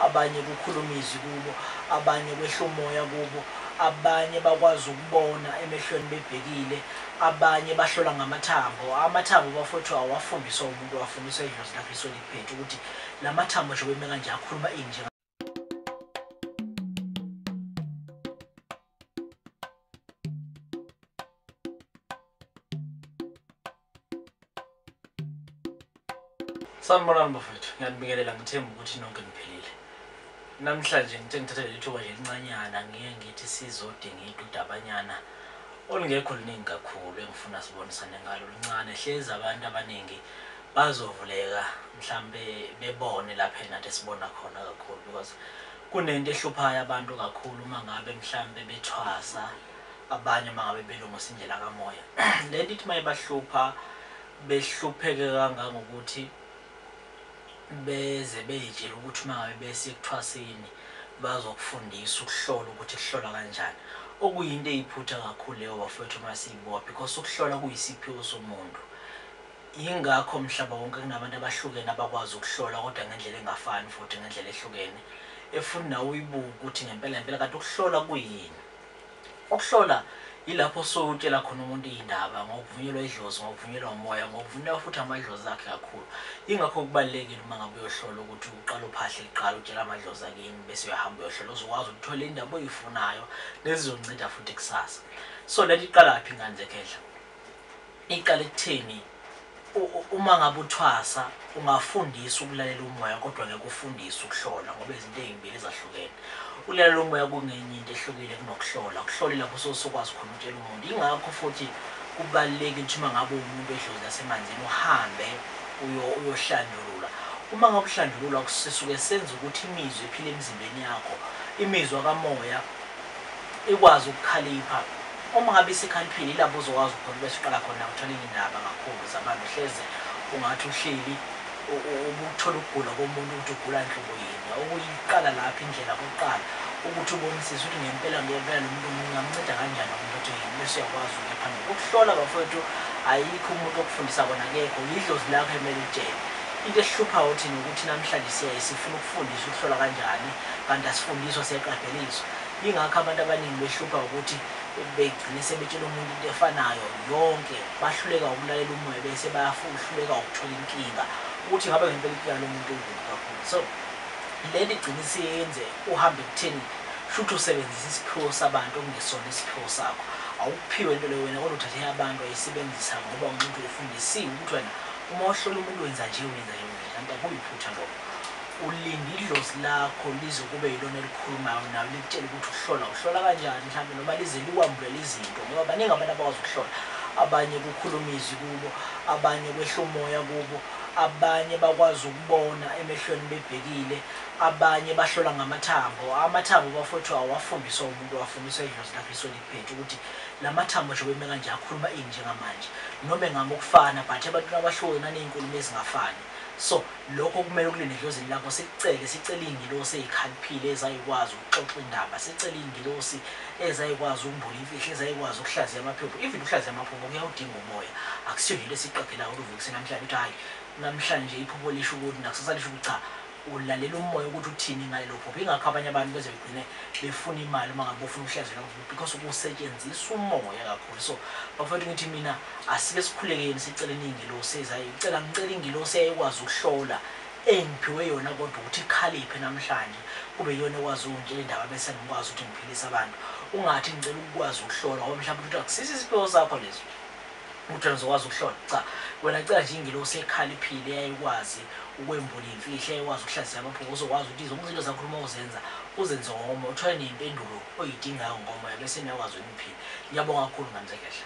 Abanye kukhuluma izwi kubo, abanye kwehla umoya kubo, abanye bakwazi ukubona emehlweni bebhekile, abanye bahlola ngamathambo. Amathambo bafowethu awafundiswa umuntu, afundiswa idlozi laKristu eliphethe ukuthi lamathambo njengoba eme kanje akhuluma ini njenga. sanibonani bafethu ngiyanibingelela ngithemba ukuthi nonke niphilile namhlanje ngithe ngithathe leli thuba nje lincanyana ngiye ngithi sizodinga idudabanyana olungekho luningi kakhulu engifuna sibonisane ngalo luncane hlezi abantu abaningi bazovuleka mhlambe bebone lapha nathi esibona khona kakhulu because Kunento ehluphayo abantu kakhulu uma ngabe mhlampe bethwasa abanye uma ngabe belungisa indlela kamoya. Lento ithi uma ibahlupha behlupheke kangangokuthi beze bey'tshela ukuthi uma ngabe bese ekuthwaseni bazokufundisa ukuhlola ukuthi kuhlolwa kanjani. Okuyinto eyiphutha kakhulu leyo bafowethu uma siyibuka because ukuhlola kuyisiphiwo somuntu. Yingakho mhlaba wonke kunabantu abahlukene abakwazi ukuhlola kodwa ngendlela engafani futhi ngendlela ehlukene efuni nawe uyibuke ukuthi ngempela ngempela kanti ukuhlola kuyini. Ukuhlola yilapho osuke utshela khona umuntu iy'ndaba ngokuvunyelwa idlozi, ngokuvunyelwa umoya, ngokuvunyelwa futhi amadlozi akhe kakhulu. Yingakho kubalulekile uma ngabe uyohlola ukuthi uqale uphahle kuqala utshele amadlozi akini bese uyahamba uyohlola uzokwazi ukuthola indaba oyifunayo nezizonceda futhi kusasa. So lento iqalaphi ngani zekhehla? Iqale ekutheni uma ngabe uthwasa ungafundisa ukulalela umoya kodwa ngeke ufundise ukuhlola ngoba izinto ezimbili ezahlukene. Ukulalela umoya kungenye into ehlukile kunokuhlola. Ukuhlola ilapho usuke usukwazi khona ukutshela umuntu. Yingakho futhi kubalulekile ukuthi uma ngabe uwumuntu wedlozi lasemanzini uhambe uyohlanjululwa. Uma ngabe uhlanjululwa sisuke senza ukuthi imizwa ephila emzimbeni yakho, imizwa kamoya, ikwazi ukukhalipha uma ngabe isekhaliphile ilapho uzokwazi khona bese uqala khona uthola iy'ndaba kakhulu zabantu hleze ungathi uhleli ubuthola ukugula komuntu ukuthi ugula nhlobo yini okuyiqala lapho indlela kokuqala ukuthi ubonisise ukuthi ngempela ngempela lo muntu ngingamnceda kanjani umuntu othi yini bese uyakwazi ukuya phambili ukuhlola bafowethu ayikho umuntu okufundisa kona kekho yidlozi lakho emele litshele into esihluphayo thina ukuthi namhlanje siyaye sifuna ukufundisa ukuhlola kanjani kanti asifundiswa siyaqadeliswa yingakho abantu abaningi behlupha wukuthi begcine sebetshela umuntu into efanayo yonke bahluleka wukulalela umoya bese bayahluleka wukuthola inkinga ukuthi ngabe ngempela inkinga lomuntu ungekho kakhulu so leli gcine siyenze uhambe kutheni shuthi usebenzisa isiphiwo sabantu okungesona isiphiwo sakho awukuphiwe into leyo wena kodwa uthathe yabantu ayisebenzisa ngoba umuntu ufundisiwe ukuthi wena uma uhlola umuntu wenza nje wenza nje kanti akuyiphutha lokho Ulinde idlozi lakho lize kube yilona elikhulumayo nawe likutshele ukuthi ukuhlola uhlola kanjani mhlawumbe noma lize likwambulele izinto ngoba baningi abantu abakwazi ukuhlola abanye kukhuluma izwi kubo abanye kwehla umoya kubo abanye bakwazi ukubona emehlweni bebhekile abanye bahlola ngamathambo amathambo bafowethu awafundiswa umuntu awafundiswa idlozi lakhe lisuke likuphethe ukuthi lamathambo njengoba eme kanje akhuluma ini njengamanje noma engama ukufana but ebantwini abahluke nanezinkulumo ezingafani. So, lokho kumele kulele edlozini lakho, sikucele, sicele izingilosi ezikhaliphile ezayikwazi ukuxoxa indaba, sicele izingilosi ezayikwazi ukumbula imfihlo, ezayikwazi ukuhlaziya amaphupho, even ukuhlaziya amaphupho kuyawudinga umoya, akusiyona into esiyiqaphelayo kodwa uvukise namhlanje uthi hhayi namhlanje iphupho lisho ukuthi nakusasa lisho ukuthi cha, Ulalela umoya ukuthi uthini ngalelo phupho. Ingakho abanye abantu beze begcine befuna imali uma ngabe bofuna ukuhleza lelo phupho because kusetshenziswa umoya kakhulu. So bafowethu ngithi mina asike sikhulekeni siceleni ingilosi eza icela ngicela ingilosi eyayikwazi ukuhlola engiphiwe yona kodwa ukuthi ikhaliphe namhlanje kube iyona ekwazi ukungitshela indaba bese ngikwazi ukuthi ngiphilise abantu. Ungathi ngicela ukukwazi ukuhlola ngoba mhlawumbe utholukuthi akusisi isiphiwo sakho lesi. Lutho engizokwazi ukuhlola. Cha. Wena cela nje ingilosi ekhaliphile eyayikwazi ukwembula iy'mfihlo, eyayikwazi ukuhlaziya amaphupho, ozokwazi ukuthi zonke izinto ezakhuluma uzenza, uzenze ngokomoya, uthole nempendulo oyidingayo ngokomoya bese niyakwazi ukuthi niphile. Ngiyabonga kakhulu Mnumzane Khehla.